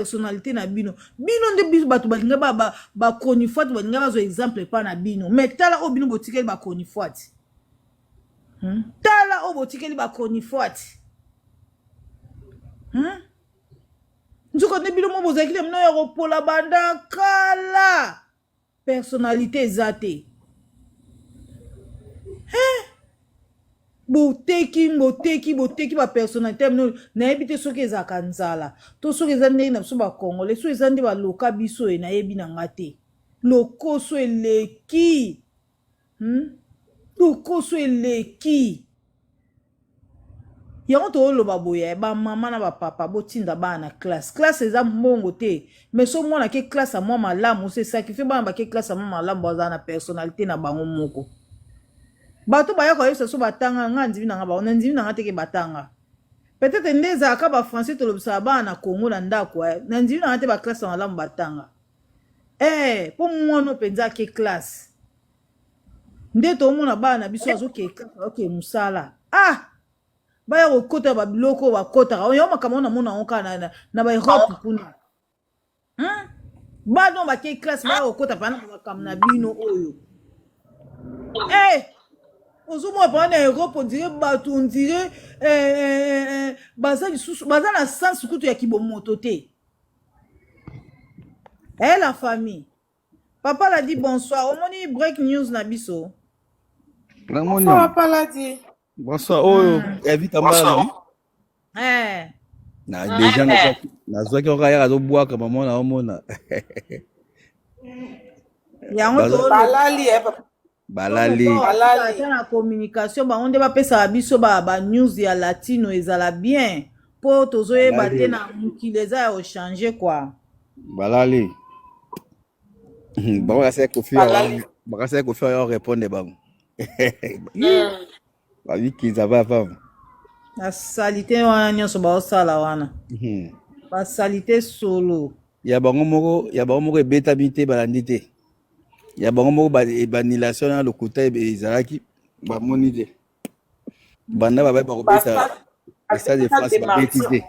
personnalité na bino bino nde biso bato balinga bachronifuati balinga bazwa exemple epa na bino mais tala oyo bino botikeli bachronifuati hmm? tala oyo botikeli bachronifuati hmm? nzoka nde bino mo bozalaki na mino ya kopola banda kala personnalite eza te hein? boteki boteki boteki bapersonnalité ya bino nayebi te soki ezalaka nzala to soki eza ndenge na biso bacongolais soki eza nde baloka biso ye nayebi na nga te lokoso eleki Hmm? Lokoso eleki. yango tooloba boye eh, bamama na bapapa botinda bana na classe classe eza mbongo te mais so mwana ke classe ya mwa malamu se sacrifie bana bake classe ya mwa malamu bazala na personnalité na bango moko bato baya koyebisa so batanga nga ndimi na nga bango na ndimi na nga teke batanga peut-être nde ezalaka bafrançais tolobisaka bana na congo na ndako eh, na ndimi na nga te baklasse ya malamu batanga eh po mwana oyo mpenza ake classe nde toomona bana na biso azoke classe azoke mosala ah baya kokota ba biloko oyo bakotaka oyo makambo oyo namona yango kaka na, na, na ba europe kuna hmm? bana oyo bake classe baya kokota pana na makambo na bino oyo eh ozomona paa na europe ondire bato ondire eh, eh, eh, eh, baza lisusu baza na sense kutu ya kibomoto te Hey, eh, la famille papa la dit bonsoir omoni break news na biso namoni papa la dit bonsoir oyo oh, evita hmm. mbala eh. na ah, deja eh. nazwaki oka yaka azobwaka mama na omona yango balali balali ata na communication bango nde bapesaka biso ba, ba news ya latino ezala bien mpo tozoyeba te na mokili eza ya ochange kua balali bango bakasaki kofi bakasaki kofi yo repondre bango babikiza bavava basalite wana nyonso baosala wana hmm. basalite solo ya bango moko ya bango moko ebetami te balandi te ya bango moko banilation na lokuta ezalaki bamoni te banda babai bakobeta stade de france babeti te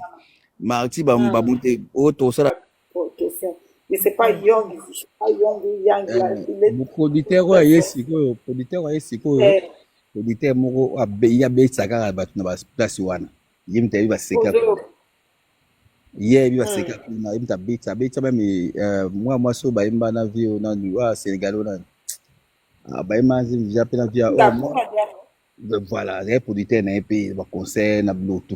marti bamuti oyo tosala professeur mais c'est pas yong c'est pas yong yang eh, producteur oyo aye sikoyo producteur aye sikoyo eh. producteur moko ya besa kaka bato na baplace wana ye moto ayebi baseka ye ayebi baseka hmm. kuna ye moto abeta abeta meme eh, mwa mwasi oyo bayemba na vie oyo nani oyo ah, sénégal oyo nani ah, bayemba via mpe na via oh, voilà azali producteur na ye mpe baconcert na bilotu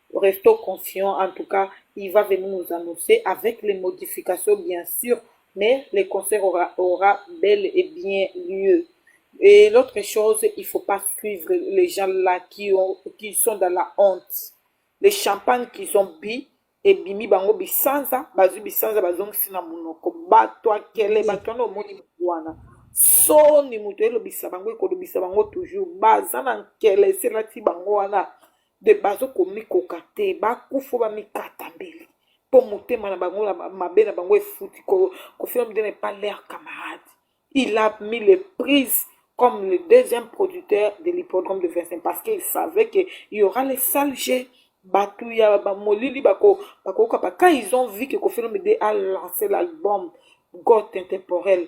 Restons confiants, en tout cas, il va venir nous annoncer avec les modifications, bien sûr, mais le concert aura, aura bel et bien lieu. Et l'autre chose, il faut pas suivre les gens là qui, ont, qui sont dans la honte. Les champagnes qu'ils ont bu, et bimi bango bisanza, bazu bisanza bazongisi na munoko, bato akele, bato wana omoni bato wana. soni moto elobisa bango ekolobisa bango toujours baza na nkele eselati bango wana de bazo komikoka te bakufa bamikata mbeli mpo motema na bango na mabe na bango efuti kofina motema epa leur camarade il a mis les prises comme le deuxième producteur de l'hippodrome de Vincent parce qu'il savait qu'il y aura les sales jets. Batou ya molili bako bako kapa quand ils ont vu que Kofi Olomide a lancé l'album God intemporel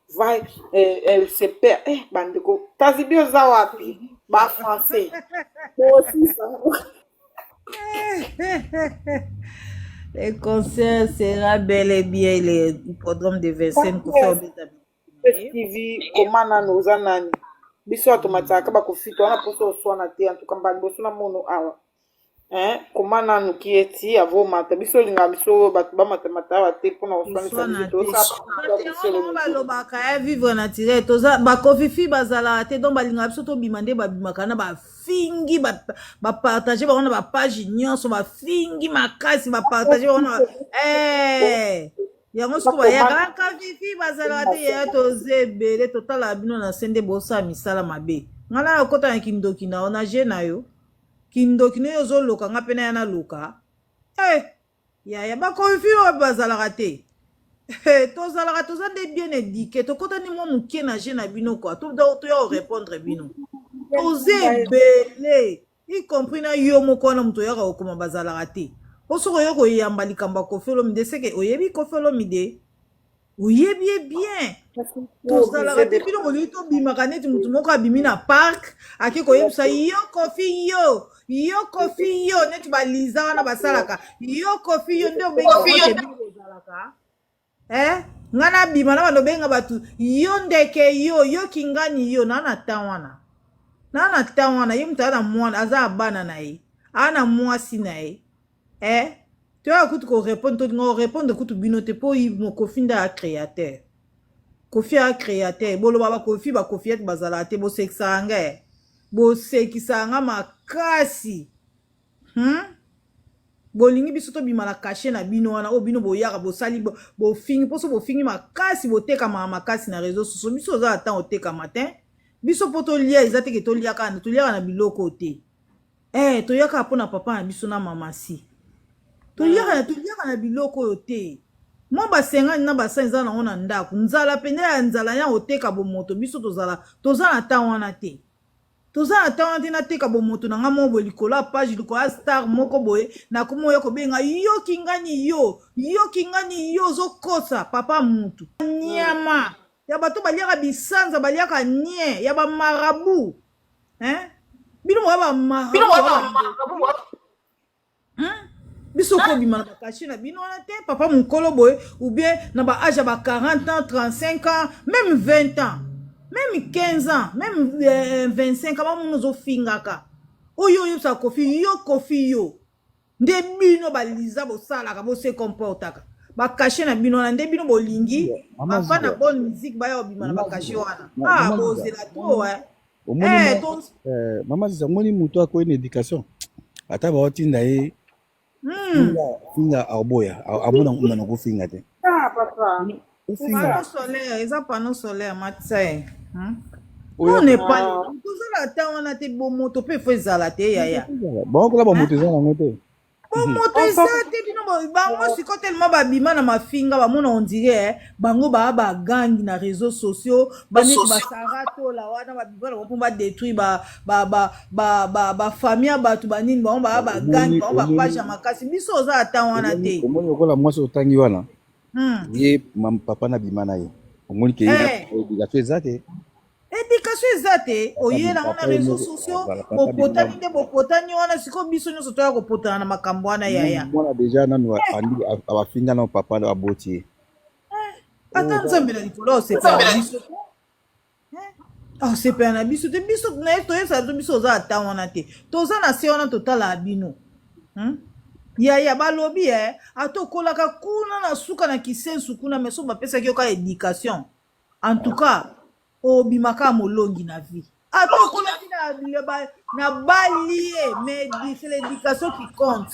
vai eh, eh, se perd eh, bandeko kasi bi oza wapi ba français bosisa Le concert sera bel et bien le hippodrome de Vincennes pour faire des amis. tv koma nanu oza nani biso bato matyaka bakofita wana mposo oswana te antuka mbala liboso na mono awa eh koma nanu ki eti avo mata biso linga biso oyo bato bamatamata awa te mpona koswanisa Koswana biso te. tosala Yango bango balobaka eh, vivre naturel toza bakofifi bazalaka te donc balingaka biso tobima nde babimaka na bafingi ba- bapartage bango na bapage nyonso bafingi makasi bapartage bango na ba- Eh, yango siko bayaka kafifi bazalaka te yaya toza ebele totalaka bino na se nde bosala misala mabe ngai na okota na kindoki na yo na je na yo Kindoki no yo ozo loka nga pe naya naloka eh yaya ba confus oyo bazalaka te eh, tozalaka toza nde bien eduque tokotani mwa moke na je na bino kua toya korepondre bino toza ebele y compris na yo moko wana moto oyaka kokoma bazalaka te mpo soki oyo koyamba likambo ya kofi olomide seke oyebi kofi olomide oyebi ye bien tozalaka te bino bolingi tobimaka neti motu moko abimi na parke ake koyebisa yo kofi yo yo kofi yo neti baliza wana basalaka yo kofi yo nde obengiozalaka e eh? ngai nabima na bando obenga bato yo ndeke yo yo kingani yo naa na tan wana naa na tan wana ye moto aa na mwana aza abana na ye aa na mwasi na ye eh toyaka kutu korepondre tolinga korepondre kutu bino te mpo mokofi nde ya créateur kofi ya créateur boloba bakofi bakofi ete bazalaka te bosekisaka nga eh. bosekisaka nga makasi hmm? bolingi biso tobima na kashe na bino wana oyo bino boyaka bosali bofingi mposo bofingi makasi botekamaka makasi na réseau soso biso oza na ntango otekama te biso mpo tolia eza teke toliaka na toliaka na biloko te Eh, toya kaka mpo na papa na biso na mama si. Toyaka na toyaka na biloko oyo te. Mwa basengani na basani eza nango na ndako. Nzala pene ya nzala ya oteka bomoto biso tozala toza na temps wana te. Toza na temps wana te nateka bomoto na nga moko boye likolo ya page likolo ya star moko boye nakomi oya kobenga yo kingani yo yo kingani yo ozokosa papa mutu nyama ya bato baliaka bisanza baliaka nie ya bamarabu hein? bino moya bamarabu hmm? biso kobima na bakashe na bino wana te papa mokolo boye ou bien na baage ya ba 40 ans 35 ans même 20 ans même 15 ans même euh, 25 ans bamona ozofingaka oyo oyebisa kofi yo kofi yo nde bino ba Lisa bosalaka bo se comportaka ba cachet na bino wana nde bino bolingi ba fan na bonne musique baya obima na ba cachet wana ah bozela trop hein eh ton eh mama Lisa moni mutu akoyi na éducation ata ba otinda ye hmm. finga finga aboya amona ngumana ko finga te ah papa Ofinga. Panneau solaire, eza panneau solaire, matisa ye. Hmm? Oya- Non, Nepal, Ah. kozala ata wana te bomoto mpe fo ezala te yaya. baokola bamoto eza nango te Bomoto eza te bino ba- bango siko telema babima na mafinga bamona ondire eh, bango baa bagangi na réseaux sociaux baneti basara tola wana babima na bango mpo badétruire ba- ba- ba- ba- ba- bafamille ya bato banini bango baa bagangi Omoni- bango omoni- bapage ya makasi biso oza ata wana te omoni lokola mwasi otangi wana hmm. ye papa na bima na ye omoni ke eh. obligation eza te éducation eza te oyela wana réseau sociaux bopotani nde bopotani wana sikoyo biso nyonso toya kopotana na makambo wana yaya mwana deja nanu abafinga na papa aboti ye eh, ata nzambe na likolo osepela biso asepela na biso te biso naye toyebisa biso biso oza ata wana te toza na se wana totalaka bino hmm? yaya balobi e ata okolaka kuna na suka na kisensu kuna me so bapesaki yo kaka éducation en tout cas obimaka molongi na vie ata okolaki na bali ye mais l'éducation qui compte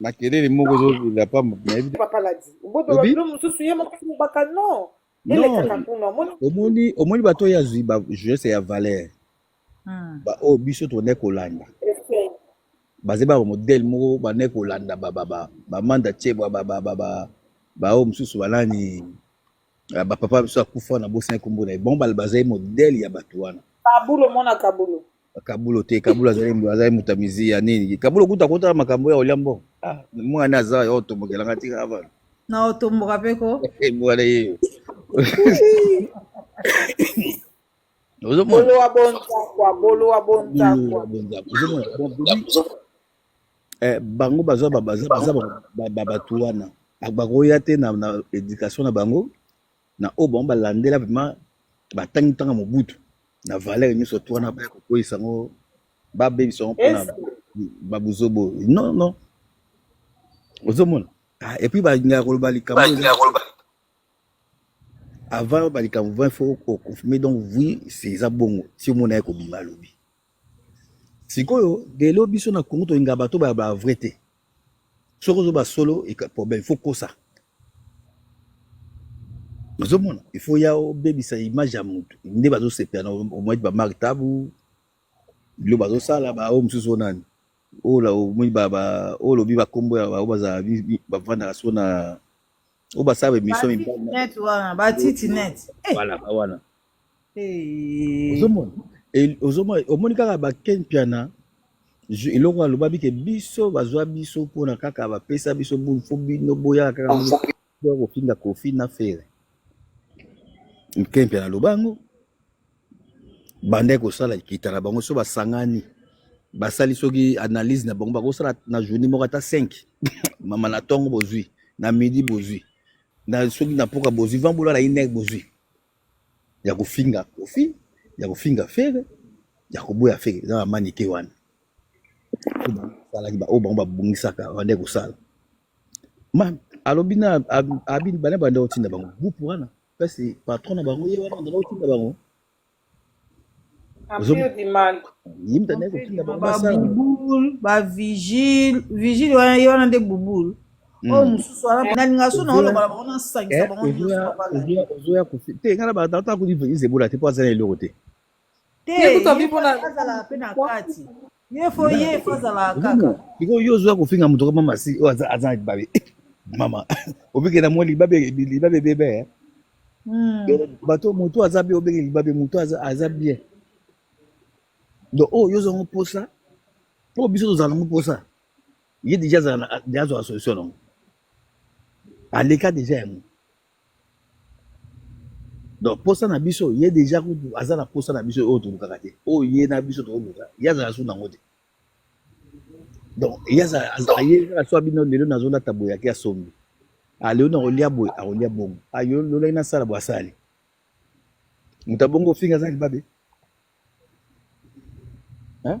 makelele moko ezolela pamba nayebi papa ladi mboto Obi? babilo mosusu ye moko mobaka no non elekaka kuna omoni omoni omoni bato oyo azwi ba jeunesse ya valeur Hmm. baoyo biso tone kolanda Ese- baze ba modele moko bane kolanda bamanda cebwa baoyo mosusu banani Ah, ba papa biso akufa na bosani kombo na ye bango bal- bazali modele ya bato wana Kabulo mwana Kabulo. kabulo te kabulo azali azali moto ya mizi ya nini kabulo kuta kotala makambo ya olia mbongo ah, mwana aza yo otombokelanga tika avana Na otomboka pe ko. mwana yeyo ozomona Bolo wa bonza kwa bolo wa bonza kwa. ozomona donc bobi Eh, bango baza ba- baza baza ba- ba- ba- bato wana Ba- bakoya te na, na education na bango na oyo bango balandela vraiment batangi ntanga mobutu na valeur nyonso to wana baya kokweyisa yango babebisa yango mpona Est-ce babuzobo non non ozomona ah, et puis balingaka koloba likambo oyo eza avant balikambo vraimen fo oconfirme donc oui c'est eza bongo si omona ye kobima alobi Sikoyo lelo biso na Congo tolingaka bato ba ba vrai te, soki ozoloba solo problème il faut okosa, ozo mona il faut oya obebisa image ya mutu nde bazosepela na yo, omoni ba Marc Tabu biloko bazosala ba oyo mosusu oyo nani oyo olobi ba kombo ya ba oyo bazala bafandaka sikoyo na. oyo basala bemission mibalinet wana batiti net eh. voilà wana eh. ozomona ozomona omoni kaka baken piana eloko alobaki ke biso bazwa biso mpona kaka bapesa biso bulu fo bino boyaka kaka kofinga kofi na fere ken piana aloba yango banda kosala likita na bango so basangani basali soki analyse na bango bakosala na journée moko ata 5 mama na ntongo bozwi na midi bozwi na soki na mpoka bozwi vambola na ine bozwi ya kofinga kofi ya kofinga fere ya koboya fere eza bamanike wana salaki baoyo bango babongisaka bande kosala ma alobi na abi bana bande otinda bango groupe wana Kasi patron na bango ye wana andala otinda bango babubul bavigile vigile wana ye wana nde bubul hmm. oyo oh, mosusu wana nalinga so naolobala bango nasangisa eh, bango nyonsoya kofi te ngai nabatata kodi vigile ebola te mpo aza na eloko te te azalaka mpe na kati Ye fo ye fo azala kaka. Biko yo ozoya kofinga moto kama masi oyo aza aza babe. Mama, obike na mwa libabe libabe bebe. Eh. Hmm. Bato moto aza bien obike libabe moto aza aza bien. Donc oh yo zongo posa. Po biso tozala ngo posa. Ye déjà azala déjà azwa solution nango. Aleka déjà yango. donc posa na biso ye deja kutu aza na posa na biso oyo tolukaka te oyo ye na biso toluka ye azala su nango te donc ye azala su abino lelo nazolata boye ake asombi alelo ah, nakolia boye akolia bongo ayo ah, lolaki nasala boye asali moto abongo ofinga aza libabe hein?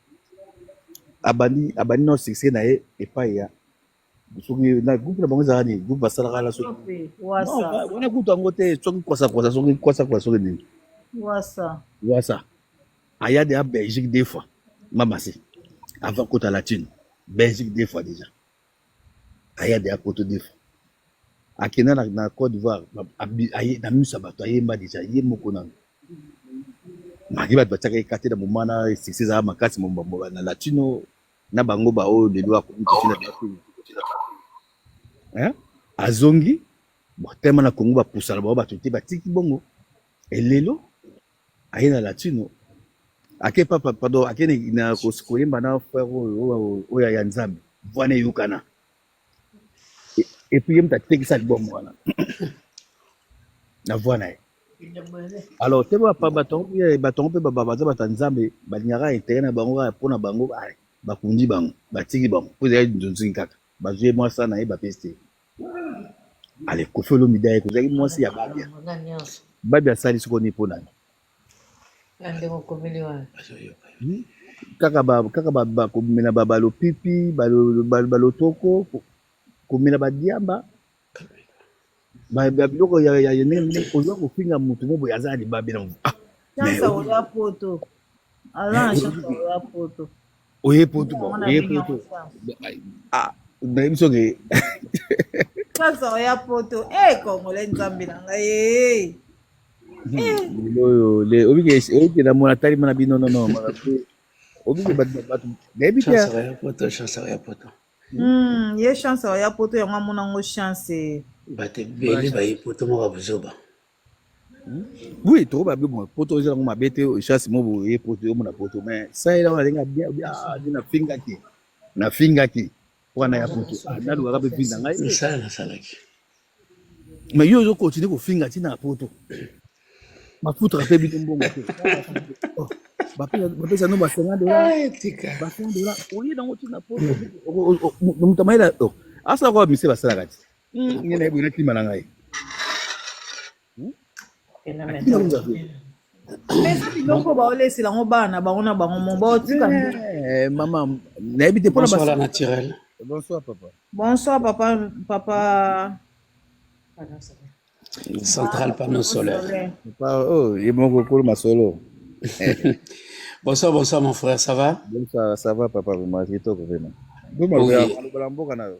abandi abandi nao succès na ye epai ya soki na groupe na bango ezalaka nini groupe basalaka na soki wana kutu yango te soki kwasakwasa soki kwasakwasa soki nini wasa aya deya belgique deux fois mamasi avant kota latine belgique deux fois déjà Aya deja poto defa akenda na, na Cote d'Ivoire na miso ya bato ayemba deja ye moko nanu maki bato batiaka ye kate na moma na succès ezalaka makasi mombambo na latino na bango baoyo lelo akomi kotina bakini azongi botema na Congo bapusana bao bato te batiki bongo elelo aye na latino ake papa pardon ake na koyemba na frère oyo oyo ya nzambe voix na eyokana epuis ye moto atekisa album wana na voix na ye alors te batongo mpe baza bato ya nzambe balingaka intere na bango kaka mpo na bango bakundi bango batiki bango mpo ezali nzonzingi kaka bazwi ye mwasa na ye bapesi te ale kofi olomide ayeke ozalaki mwasi ya babia babia asali soko nini mpo nani kaka kaka komela balopipi balotoko komela badiamba biloko ya ndenge oza kofinga motu mo boye aza na libabe na motu ah, oye poto ba oye poto ah mais biso ke sasa oya poto eh congolais nzambe na ngai eh oyo le obike obike na mona tali mana bino non non mara pe obike ba ba nayebi te chance ya poto chance ya poto hmm ye chance ya poto yango amona ngo chance eh. bato ebele baye poto moko buzoba Oui, trop babe moi. Poto eza ngo mabete chasse mo boye poto yo mona poto mais ça ela wana nga bien bien ah, na finga ki. Na finga ki. Wana ya poto. Ah, na luka pe finga ngai. Mais ça la salaki. Mais yo zo continuer ko finga ti na poto. Ma foutre pe bino mbongo te. Oh, ba pe ba pe ça no ba 50 dollars. Ah, tika. Ba 50 dollars. Oye na ngo ti na poto. Mutamaela. Asa ko mise ba salaka ti. Ngai na ye boye nakima na ngai. eza biloko baolesela yango bana bango na bango mo baotika eh, mama nayebi te mpona basala naturel bonsoir papa bonsoir papa papa central panneau solaire papa oh ye moko kolo masolo bonsoir bonsoir mon frère ça va bonsoir ça va papa vraiment kitoko vraiment bomaloba mboka na yo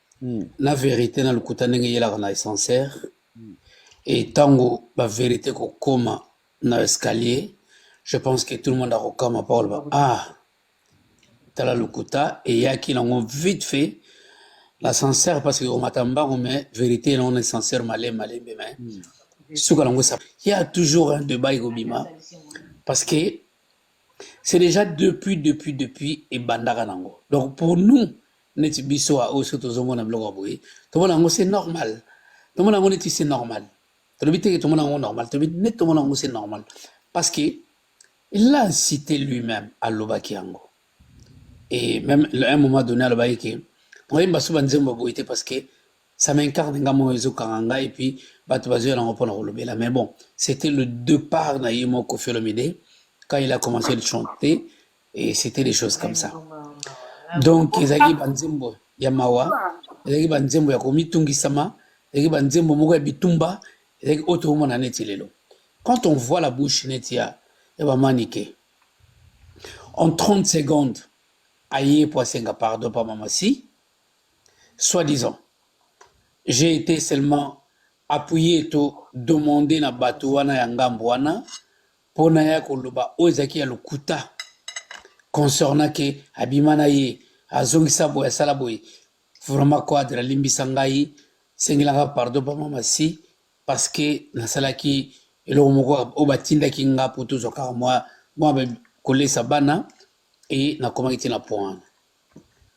Hmm. na verite na lokuta ndenge eyelaka na essencer hmm. e ntango baverite kokoma na escalier je pense que tout le monde akokama mpo koloba ah tala lokuta eyaki nango vite fait l'ascenseur parce que omata mbango mais verité nango na ascenseur malembe malembe mais hmm. suka nango esa ya toujours un débat ekobima parce que c'est déjà depuis depuis depuis ebandaka nango donc pour nous neti biso a oyo soki tozomona biloko ya boye tomona yango se normal tomona yango neti se normal tolobi teke tomona yango normal tolobi neti tomona yango se normal parce que il a incité lui-même alobaki yango et même à un moment donné alobaki ke oyemba so banzembo ya boye te parce que ça m'incarne nga moko ezokanga nga et puis bato bazoya nango mpona kolobela mais bon c'était le départ na ye moko kofi olomide quand il a commencé de chanter et c'était des choses comme ça donc ezalaki banzembo ya mawa ezalaki banzembo ya komitungisama ezalaki banzembo moko ya bitumba ezalaki oyo tokomona neti lelo quand on voit la bouche neti ya ya bamanike en 30 secondes aye mpo asenga pardon pa mamasi soit disant j'ai été seulement appuye to demande na bato wana ya ngambo wana mpo na ya koloba oyo ezalaki ya lokuta concernant ke abima na ye azongisa boye asala boye vraiment quadre alimbisa ngai sengelanga pardon bama masi parce que nasalaki eloko moko oyo batindaki nga mpo tozwa kaka mwa mwa kolesa bana e nakomaki te na point wana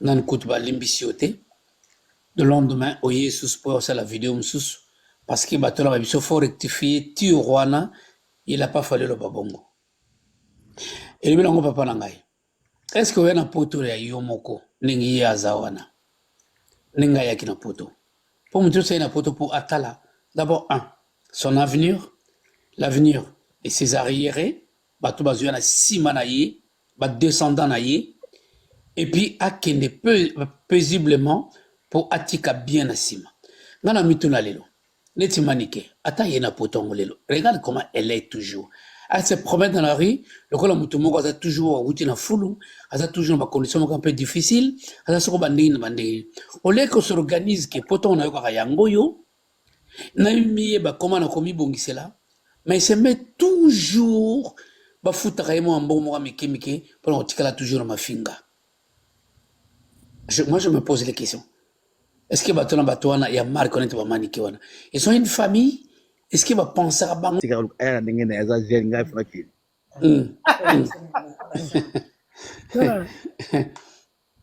nani kutu balimbisi yo te le lendemain oye lisusu mpo ya kosala video mosusu parce que bato na biso fo rectifie tire wana il a pas fallu eloba bongo elobi nango papa na ngai est ce que oya na poto ya yo moko ndenge ye aza wana ndenge ayaki na poto mpo moto nyonso aye na poto mpo atala d'abord un son avenir l'avenir et ses arriérés bato bazoya na nsima na ye badescendant na ye epuis akende paisiblement mpo atika bien na nsima ngai na mituna lelo neti manike ata ye na poto yango lelo regarde comment elle est toujours elle se promène dans la rue lokola moto moko aza toujours awuti na fulu aza toujours na bacondition moko un peu difficile aza soko bandenge na bandenge olie ko s'organise ke po ntongo nayokaka yango oyo namiye bakoma na komibongisela mais se met toujours bafutaka ye mwa mbongo moko mike mike mpona kotikala toujours na mafinga Je, moi, je me pose les questions. Est-ce que bato na bato wana ya marque wana te bamanike wana ils ont une famille est-ce que bapensaka bango tika aya na ndenge na ye aza jeune ngai funa kili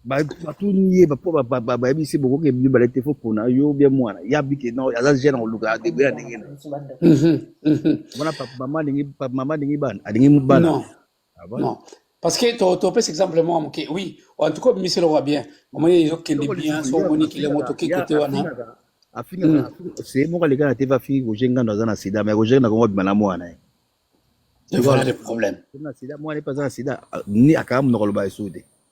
batuni ye po bayebisi bokoki ebili bale te fo pona yo bia mwana ya bike no aza jeune akoluka debe ya ndenge na wana mama alingi bana alingi bana Ah bon? Non. Parce que to to pèse exemple moi ok oui en tout cas obimisi eloko bien omoni ezokende bien so omoni kile moto oke kote wana afingaka seye moko aleka na te afingi roger ngando aza na sida mais roger nakongo abima na mwana ye voilà le problème na sida mwana epe aza na sida ni akanga monoko aloba esuku te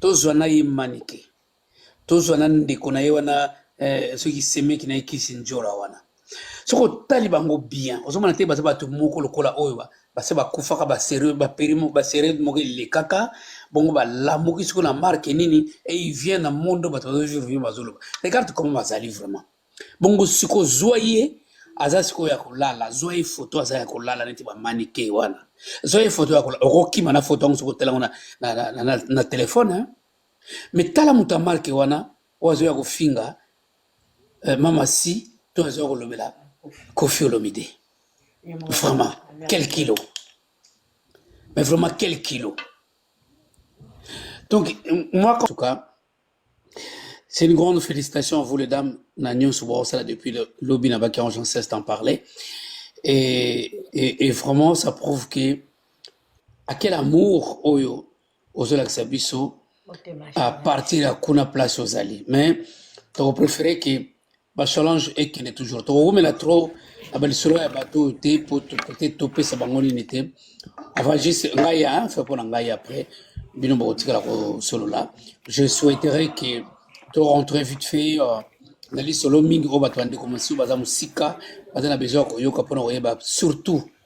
tozwa na ye manike tozwa na ndeko na ye wana eh, soki semeki na ye kisi njora wana soki otali bango bien ozomona te baza bato moko lokola oyo base bakufaka basere moko elekaka bongo balamuki soki na marke nini et il vient na monde bato bazovivre bazoloba regarde comment bazali vraiment bongo siko zwa ye aza sikoyo ya kolala zwa ye foto aza ya kolala neti bamanike wana zwa ye foto ya kolala okokima na foto yango soki otelango na, na, na, na, na telefone hein? me tala moto ya marke wana oyo azoya kofinga eh, mama si to azoya kolobela kofi olomide vraiment quel kilo mais vraiment quel kilo donc moi en tout cas C'est une grande félicitation à vous les dames. Na nyonso bosala depuis le lobby na baki en cesse d'en parler. Et, et, et vraiment ça prouve que à quel amour oyo ozolakisa biso à partir ya kuna place ozali. Mais toko préféré que ba challenge ekende toujours tokowumela trop na balisolo ya bato oyo te mpo tokote topesa bango nini te avant juste ngai ya fe mpo na ngai après bino bokotikala kosolola je souhaiterais que to rentrer vite fait euh, na lisolo mingi oyo bato bandeko mosusu baza mosika baza na besoin ya koyoka mpo na koyeba surtout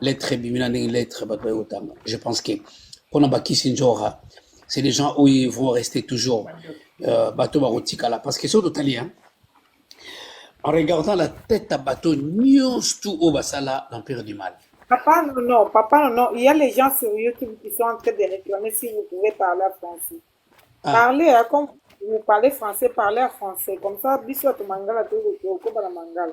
lettre ebimi na ndenge lettre bato baye kotanga je pense que mpona bakisi njora c'est des gens oyo vont rester toujours euh, bato bakotikala parce que soki totali hein, en regardant la tête ya bato nyonso tout oyo basala l'empire du mal Papa, non, non, papa, non, non. Il y a les gens sur YouTube qui sont en train de réclamer si vous pouvez parler à français. Ah. Parlez, hein, comme vous parlez français, parlez à français. Comme ça, bisous à ton mangala, tout le monde, au Koba la mangala.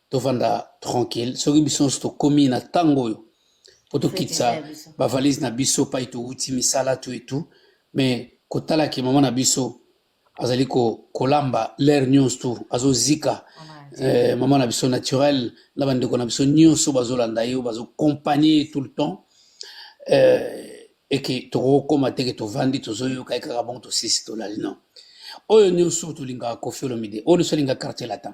tovanda tranquille soki biso nyonso tokomi na ntango oyo mpo tokitisa bavalise na biso pai towuti misala to etu me kotala ke mama na biso azali kolamba lere nyonso tu azozika eh, mama na biso naturel na bandeko na biso nyonso bazolanda ye bazokompagne ye tout le temps eh, eke tokokoma te ke tovandi tozoyoka ye kaka bongo tosisi tolali non oyo nyonso tolingaka kofi olomide oyo nyonso alingaka quartier latin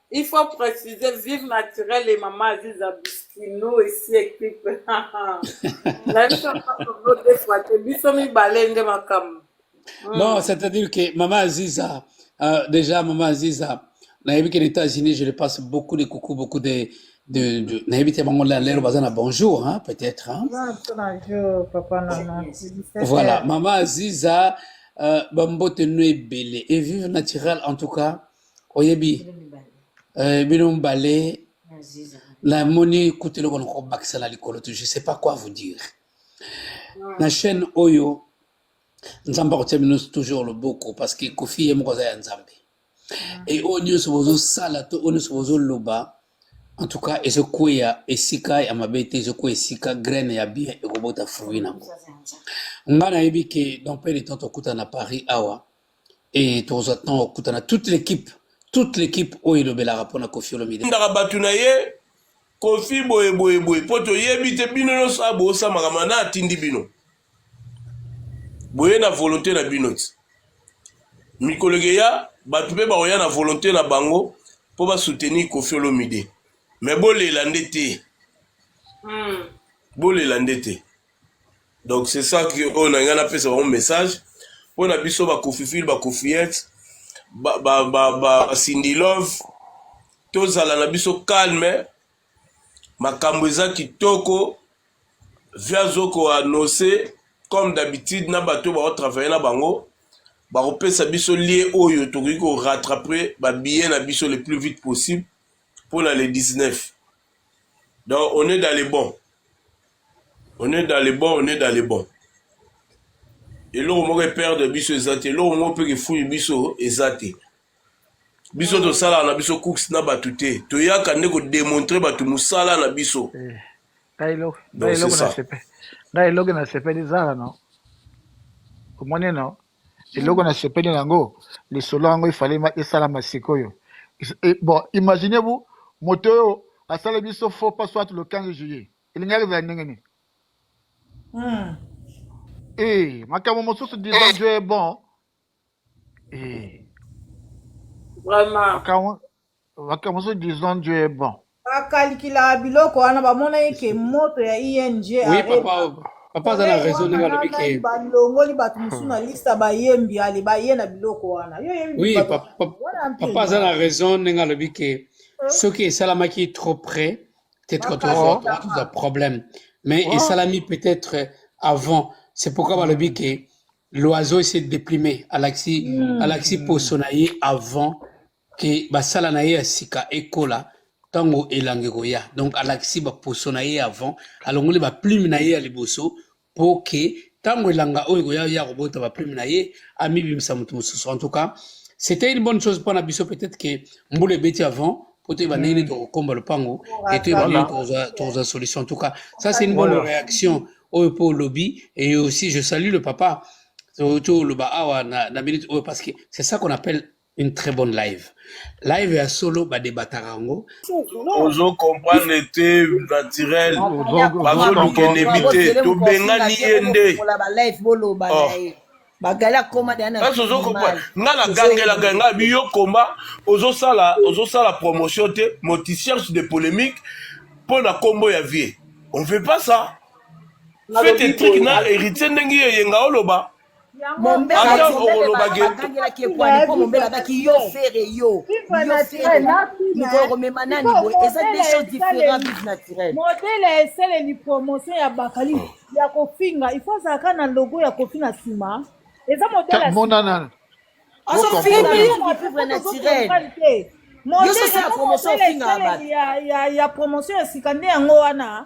Il faut préciser vive naturel et maman Aziza Biskino ici équipe. La biso ko de fois te biso mi balende makam. Hmm. Non, c'est-à-dire que maman Aziza euh, déjà maman Aziza na yebi que les États-Unis je le passe beaucoup de coucou beaucoup de de, de na yebi te bango la lelo bazana bonjour hein peut-être hein. Bonjour papa maman. Voilà, maman Aziza euh, bambote no ebele et vive naturel en tout cas. oyebi eh, bino mibale namoni kutu eloko nako bakisa na likolo tu je sais pas quoi vous dire na chaîne oyo nzambe akotia bino toujours loboko parce que kofi ye moko aza ya nzambe e oyo nyonso bozosala to oyo nyonso bozoloba en tout cas ezokweya esika ya mabe te ezokweya esika graine ya bien ekobota fruit nango ngai nayebi ke dans pe de temps tokutana na paris awa et tokozwa ntango okutana toute l'équipe toute l'équipe oyo elobelaka mpo na kofi olomide ndaka bato na ye kofi boye boye boye mpo toyebi te bino nyonso a bosa makambo na atindi bino boye na volonté na bino ti mikolo ekeya bato mpe bakoya na volonté na bango mpo basoutenir kofi olomide me bolela nde te hmm. bolela nde te donc c'est ça que oyo na ngai napesa bango message mpo na biso bakofifile bakofiete basindilove tozala na biso calme makambo eza kitoko via zoko anose comme d'habitude na bato oyo baotravaille na bango bakopesa biso lie oyo tokoki korattrape babillet na biso le plus vite possible mpo na le 19 Donc on est dans le bon. On est dans le bon, on est dans le bon. eloko moko eperdre biso eza te eloko moko mpe kifuni biso eza te biso tosalaka na biso cooks na bato te toyaka nde kodemontre bato mosala na biso eh, nda eloko nasepeli zala no omoni no eloko na sepeli na yango lisolo yango efale esalama sikoyo e, bon imaginez vous moto oyo asala biso faux pas soit le 15 juillet elingaki ezala ndenge nini hmm. eh, makambo mosusu disant dieu est bon eh. vraiment makambo so disons dieu est bon bakalikilaka biloko wana bamona ye ke moto ya ing oui papa papa aza na raison ndenge alobi ke balongoli bato mosusu na lista bayembi ale baye na biloko wana yo yebi oui papa aza na raison ndenge alobi ke eh? soki esalamaki trop près peut-être toza problème mais oh. esalami peut-être avant c'est pourquoi hmm. balobi ke l'oiseau essaie de déplimer alakisi hmm. alakisi poso na ye avant ke basala na ye ya sika ekola ntango elanga ekoya donc alakisi baposo na ye avant alongoli baplume na ye ya liboso mpo ke ntango elanga oyo ekoya ya kobota baplume na ye amibimisa moto mosusu en tout cas c'était une bonne chose mpo na biso peut-être ke mbula ebeti avant mpo toyeba ndenge nini tokokomba lopango e toyeba ndenge tokozwa solution en tout cas ça c'est une bonne réaction oyo mpo olobi et aussi je salue le papa toloba awa na minute oyo parce que c'est ça qu'on appelle une très bonne live live ya solo badebataka yango ozo comprendre te naturel bazoluka enemi te tobengani ye nde kasi ozo comprendre nga nagangelaka nga biyo komba ozosala ozosala promotion te moticherche de polémique mpo na nkombo ya vie on fait pas ça fete trik na héritier ndenge eyenga oloba ata okoloba geangelaki ekwani mpo mombele abaki yo fere yo yo fere mokolo komema nani boye eza de choses différent vive naturel modele ya esaleli promotion ya bakali oh. ya kofinga ifo azalaka na logo ya kofi na nsima eza modelemonana ya promotion ya sika nde yango wana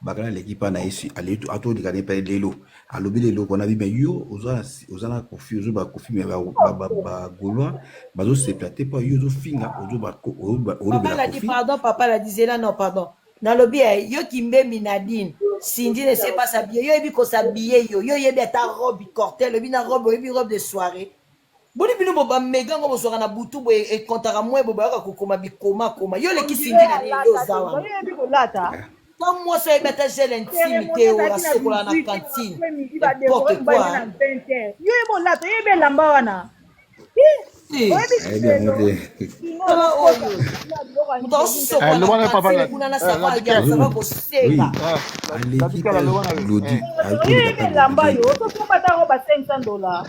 bakala aleki mpa na yesu atolika ne mpe lelo alobi lelo mpona bi me yo oza na kofi ozo bakofi me bagolois bazosepela te mpo yo ozofinga ozobelapardon papa ladizela no pardon nalobi ya eh, yo kimbembi nadine sindi ne sepasa biye yo yebi kosa biye yo yo yebi ata robe cortel oyebi na robe oyebi robe de soirée Boni bino bo ba mega ngo bozwaka na butu boye ekontaka mwe boye boyaka kokoma bikoma koma yo oleki sindi na nini yo oza wana oyebi kolata ta mwasi ayebi ata gel intime te oyo asokola na cantine n'importe quoi yo yebi olata oyebi elamba wana elamba yo tosomba ntango ba 500 dollars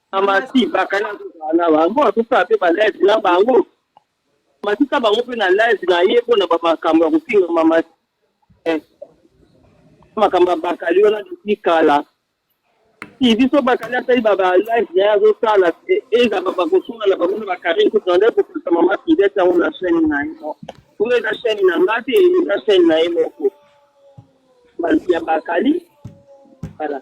amasi bakali azozala na bango azosala mpe balive na bango matisa bango mpe na live na ye mpo na bamakambo ya kofinga mama eh, makambo ya bakali wana depuis kala si biso bakali asali balive na ye azosala eh, eza bakosunga na bango na bakarine kutu na nde kopesa mama fidete yango na chaine na ye kuna eza chaine na nga te eza chaine na ye moko ya bakali voilà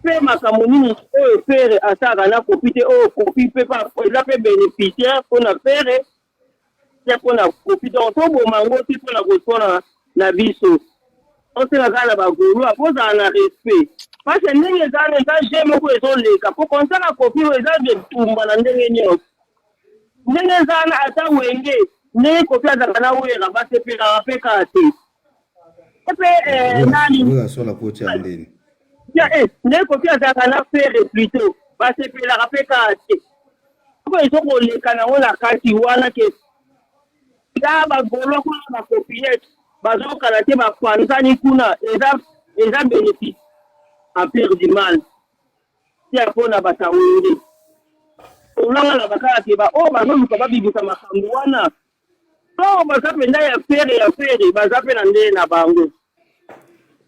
mpe makambo nini oyo pere asalaka na kopi te oyo kopi mpe eza mpe bénéficiaire mpo na pere te mpo na kopi donc toboma yango te mpo na koswana na biso osala kaka na bagolwa kozala na respect parce ndenge ezala eza je moko ezoleka mpo konsaka kopi oyo eza etumba na ndenge nyonso ndenge ezala ata wenge ndenge kopi azalaka na wera basepelaka mpe kaka te nde kofi azalaka na fere plutot basepelaka mpe kaka te soko ezokoleka nango na kati wana ke eza bagolo kuna bakopiyete bazokala te bapanzani kuna eza eza bénéfice empire du mal tia mpo na batawende olanga na bakala te baoyo oh, bazoluka babibisa makambo wana Baoyo baza mpenza ya fere ya fere baza mpe na ndenge na bango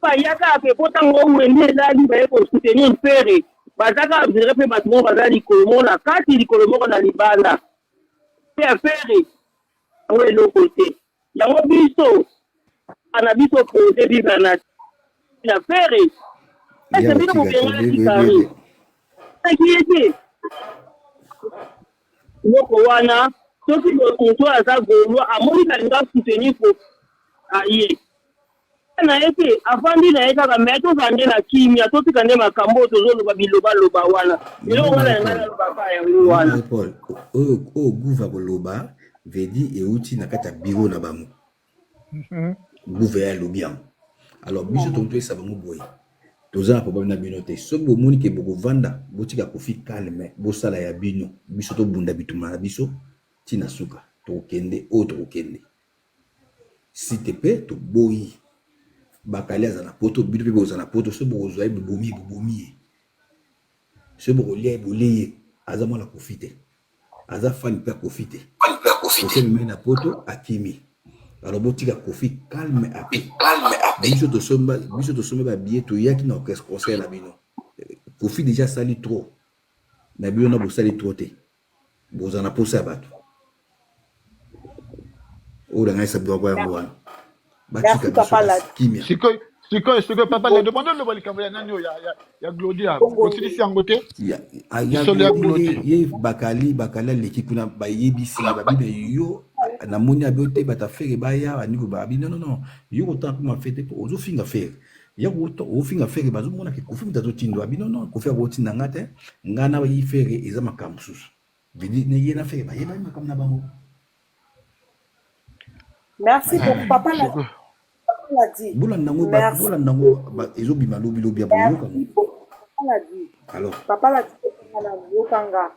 bayaka mpe mpo ntango wende elali baye kosoutenir fere baza kaka vire mpe bato moko baza likolo moko na kati likolo moko na libanda mpe ya fere yango eloko te yango biso ana biso proje bible na na fere ese bino bobenga na kikari eki ete Eloko wana soki moto oyo aza gaulois amoni balinga soutenir koffi aye na ye te avandi na ye kaka me tozala nde na kimia totika nde makambo oyo tozoloba bilobaloba wana eloko wana ya ngai nalobaka yango wana oyo guva koloba vedi euti na kati ya biro na bango gouve alobi yango alors biso tokopesa bango boye toza na problème na bino te soki bomoni ke bokovanda botika kofi calme bosala ya bino biso tobunda bituma na biso ntina suka tokokende oyo tokokende si te mpe toboyi bakali aza na poto bino mpe boza na poto soki bokozwa ye bobomi bobomi ye Soki boko lia ye bolie ye aza mwana koffi te aza fan pe ya koffi te koffi amemi na poto akimi alors botika koffi calme à paix biso tosomba biso tosomba ba billet toyaki na orchestre concert na bino koffi déjà asali trop na bino na bosali trop te Boza na posa ya batu oyo langaisa bino kwa yango wana batika biso kimia sikoyo sikoyo sikoyo papa na demande oloba likambo ya nani oyo ya glodia osilisi yango te lisolo ya glodia ye bakali bakali aleki kuna bayebisi babibe yo namoni abe te batafere baya bandiko babi non non non yo kotanga kuma fete po ozofinga fere ya kuta ofinga fere bazomona ke kofi moto azotinda bino no kofi akotinda nga te nga na yi fere eza makambo mosusu bidi ne ye na fere bayebani makambo na bango merci ah, beaucoup papa na bolanda yango bolanda yango ezobima lobi lobi ya boyoka alors papa la na yokanga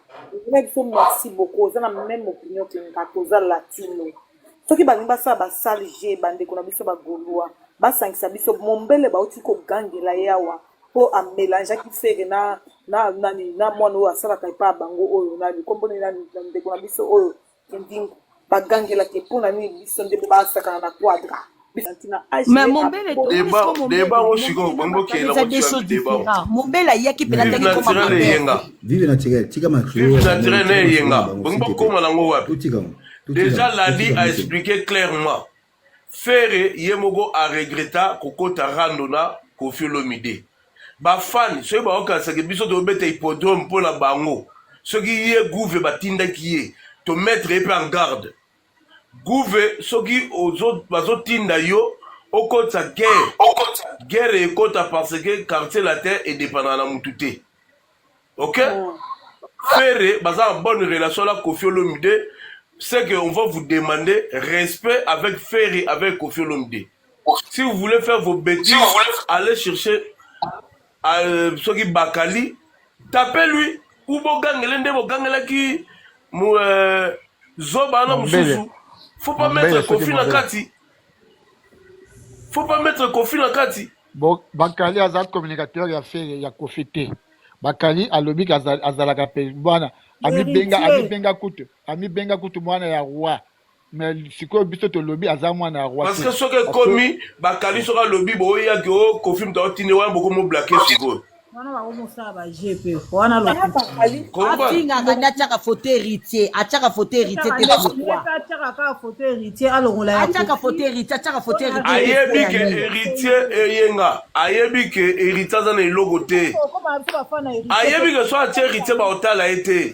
ndenge biso merci beaucoup oza na même opinion ke nga toza latino soki balingi basala basale je bandeko na biso bagolwa basangisa biso mombele bauti kogangela ye awa mpo amelangeaki fere na na nani na mwana oyo asalaka epa bango oyo nani komboni na ndeko na biso oyo kindingu bagangelaki mpo na nini biso nde mpo basakana na quadra Mais mon bel est tourné Deba, sur mon bel. deba ngo sikoyo okomi bokela Eza des choses deba ngo. différentes. Mon bel ayaki mpe Vive nataki koma naturel mabe. eyenga. vive naturel tika ma Vive naturel na eyenga. Bongo bokoma nango wapi? totika ngo Totika Déjà ngo. Lali Totika a ngo. expliqué clairement. Ferre ye moko a regretta kokota rando na Koffi Olomide. Ba fan soki baokanisa ke biso tobeta hippodrome mpo na bango. Soki ye gouve batindaki ye to mettre ye mpe en garde. Gouve soki ozo bazotinda yo okotisa guerre guerre ekota parce que quartier latin edependaka na mutu te ok ferre baza na bonne relation na kofi olomide c'est que on va vous demander respect avec ferre avec kofi olomide si vous voulez faire vos bêtises allez chercher euh, soki bakali tape lui ou bogangele nde bogangelaki euh, zoba wana mosusu faut pas mettre kofi na kati faut pas mettre kofi na kati bakali aza communicateur ya fere ya kofi te bakali alobi azalaka mpe bwana amibenga amibenga kutu amibenga kutu mwana ya roi mais sikoyo biso tolobi aza mwana ya roi parce que soki ekomi bakali soki alobi boyaki o oh, kofi moto aotinde wana bokomoblake sikoyo wana bakomosala baje mpe wana lokoafingaka nde atyaka foto héritier atyaka foto héritier te pourquoiatyaka kaka foto héritier alongola atyaka foto héritier atyaka foto héritier ayebi ke héritier eyenga ayebi ke héritier aza na eloko te ayebi ke so atye héritier baotala ye te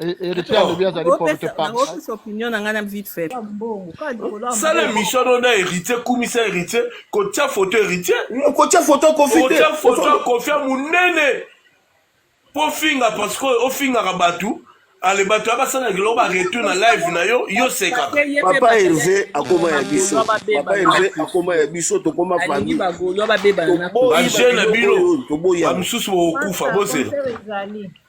Héritier alobi azali porte parole. opinion na ngai na vite fait. Sala mission no na héritier kumisa héritier kotia photo héritier. Kotia photo kofi te. Kotia photo kofi munene. Po finga parce que ofingaka bato ale bato ya basala eloko baretour na live na yo yo seka papa herve akoma ya biso papa herve akoma ya biso tokoma famille bajeune na bino bamisusu bokokufa bozela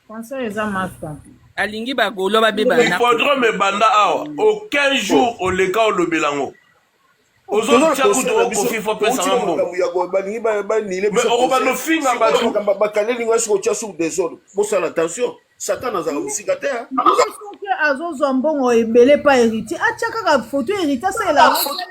Français eza masta. alingi ba gaulois ba beba na hippodrome ebanda awa aucun jour oleka olobela yango ozotya kutu okofi fo pesanga mbongo balingi banile mais okobanda ofinga bato bakaneli ngo esiko otya sur desordre bosala attention satan azala mosika te azozwa mbongo ebele pa héritier atya kaka foto héritier asalela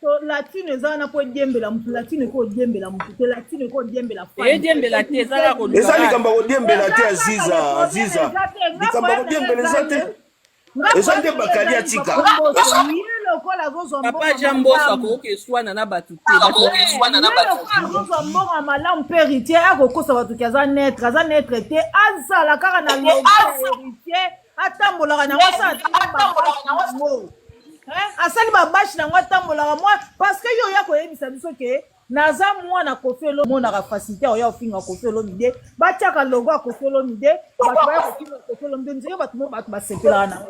To latino eza wana po ediembela mutu latino eko odiembela mutu te latino eko odiembela femme. Eyediembela te eza kaka koluka. eza likambo ya kodiembela te aziza aziza likambo ya kodiembela eza te eza nde bakali atika ye lokola azozwa Papa mbongo Jean Mbosso malamu. akoki eswana na bato te. Bato Ye lokola azozwa mbongo ya malamu mpe heritier akokosa bato ke aza netre aza netre te azala kaka na loba heritier atambolaka na yango asali babashi na yango atambolaka mwa parce que yo oya koyebisa biso ke naza mwana kofi olomonaka facilité oya ofinga kofi olomide batiaka logo ya kofi olomide bato baya kofinga kofi olomide nzeye bato mo bato basepelaka na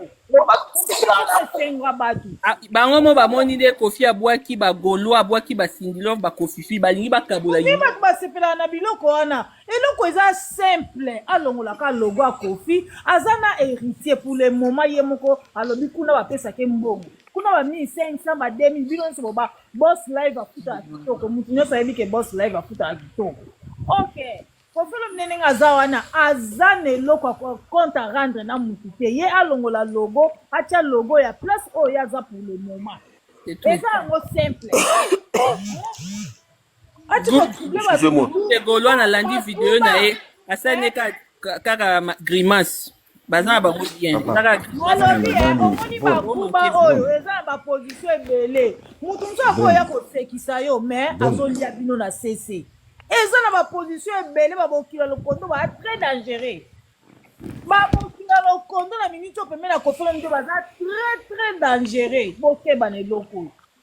esenga bato ah, bango mo bamoni nde kofi abwaki bagolo abwaki basindilove bakofifi balingi bakabola bato basepelaka na biloko wana eloko eza simple alongolaka logo ya kofi aza na héritier pour le moment ye moko alobi kuna bapesake mbongo kuna ba 1500 ba 2000 bino nyonso boba boss live afutaka kitoko motu nyonso ayebi ke boss live afutaka kitoko ok kofelo mine ndenge aza wana aza na eloko ya compte a rendre na motu te ye alongola logo atya logo ya place oyo ye aza pour le moment eza yango simple golois nalandi video na ye asali ne kaka grimace baza na bango bien bakuba oyo eza na baposition ebele motu mosusu akoya kosekisa yo mais azolia bino na sese eza na baposition ebele babokila lokondo baa très dangereux babokila lokondo na miniti oyo pembeni ya kofela mito baza très très dangereux bokeba na eloko oyo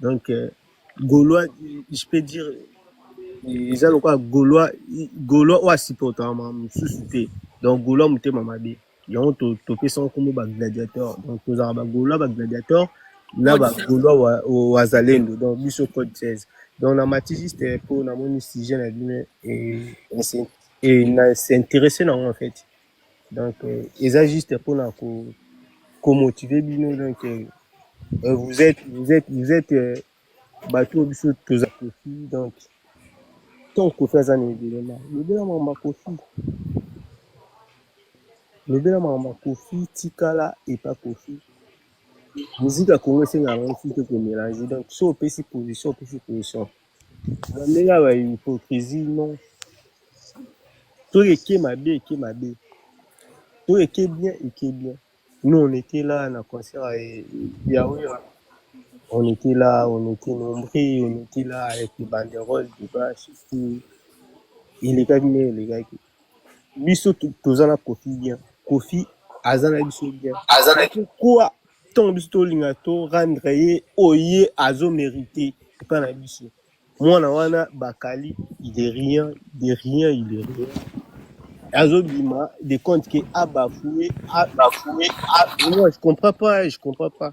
donc euh, gaulois je peux dire eza lokola gaulois gaulois oyo asupportaka makambo mosusu te donc gaulois motema mabe yango topesaka nkombo bagladiateur donc tozalaka bagaulois bagladiateur na bagaulois wazalendo donc biso code 16 donc na mati juste mpo namoni sujet na bino na s'intéresse na yango en fait Donc, euh, eza juste pour na ko, ko motiver bino donc euh, euh vous êtes vous êtes vous êtes euh, bato biso toza kofi donc tant kofi aza na ebelema lobela mama kofi lobela mama kofi tikala epa kofi muzika kongo esengaka ngo fi te komelange donc so opesi position opesi position Bandela ba hypocrisie non. To eke mabe eke mabe. To eke bien eke bien. Nous on était là na concert eh, ya Wera. On était là, on était nombreux, on était là avec les banderoles, des bâches, tout. Elekaki nde elekaki. biso toza na kofi bien kofi aza na biso bien pourquoi ntango biso tolinga to rendre ye oye azo merite epai na biso mwana wana bakali il est rien de rien il est rien azobima de compte ke abafoue abafoue moi je comprends pas je comprends pas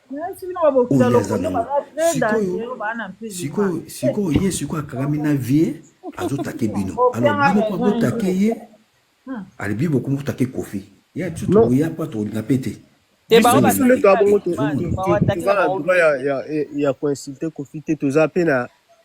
oyo aza nango sikoyo sikoyo sikoyo ye sikoyo akangami na vie azotake bino alors bino mpo botake ye hmm. alibi bokomi kotake kofi ya biso tokoya mpo tokolinga mpe te ya koinsulte kofi te toza mpe na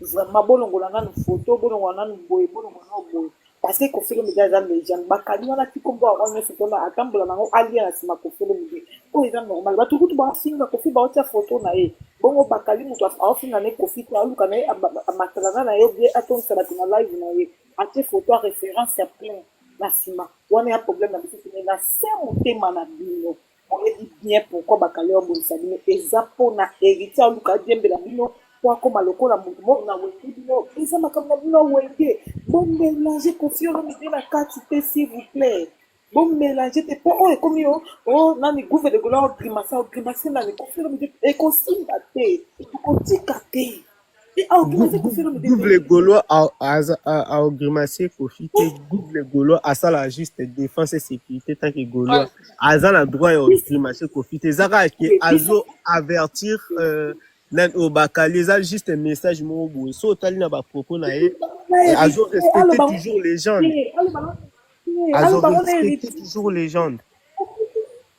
Vraiment bolongola nanu photo bolongola nanu boye bolongola nanu boye parce que Koffi Olomide aza legende bakali wana ti kombo yango nyonso tona atambola nango alia na nsima Koffi Olomide oyo eza normal bato kutu baofinga Koffi baotia photo na ye bongo bakali moto aofinga ne Koffi te aoluka na ye matalana na ye obie atondisa bato na live na ye atie photo ya référence ya plein na nsima wana ya problème na biso tene na se motema na bino Boyebi bien pourquoi bakali babundisa bino eza pona heritier aluka adiembela bino po akoma lokola mutu moko na wenge bino eza makambo na bino ya wenge bo melange koffi olomide na kati te s'il vous plait bo melange te po oyo ekomi yo o nani gouve de gola o grimace o grimace nani koffi olomide ekosimba te tokotika te double golo aogrimace kofi te double golo asala juste défense et sécurité tant que golo aza na droit ya ogrimace kofi te eza kaka ke azo avertir euh, na oyo bakali eza juste message moko boye so otali na bapropos na ye azo respecte toujours légende azo respecte toujours légende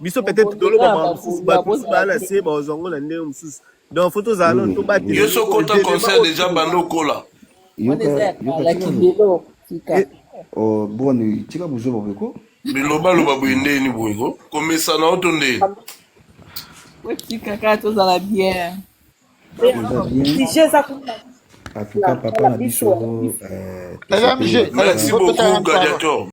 biso peut-être toloba makambo mosusu bato mosusu baa na se bazwa yango na ndenge mosusu donc fo tozala nano tobatela yo so kota concert deja banda okola boni tika buzoba boye ko bilobaloba boye ndeni boye ko komesana oto ndeni otikaka tozala bien en tout cas papa na biso euh, merci beaucoup gladiator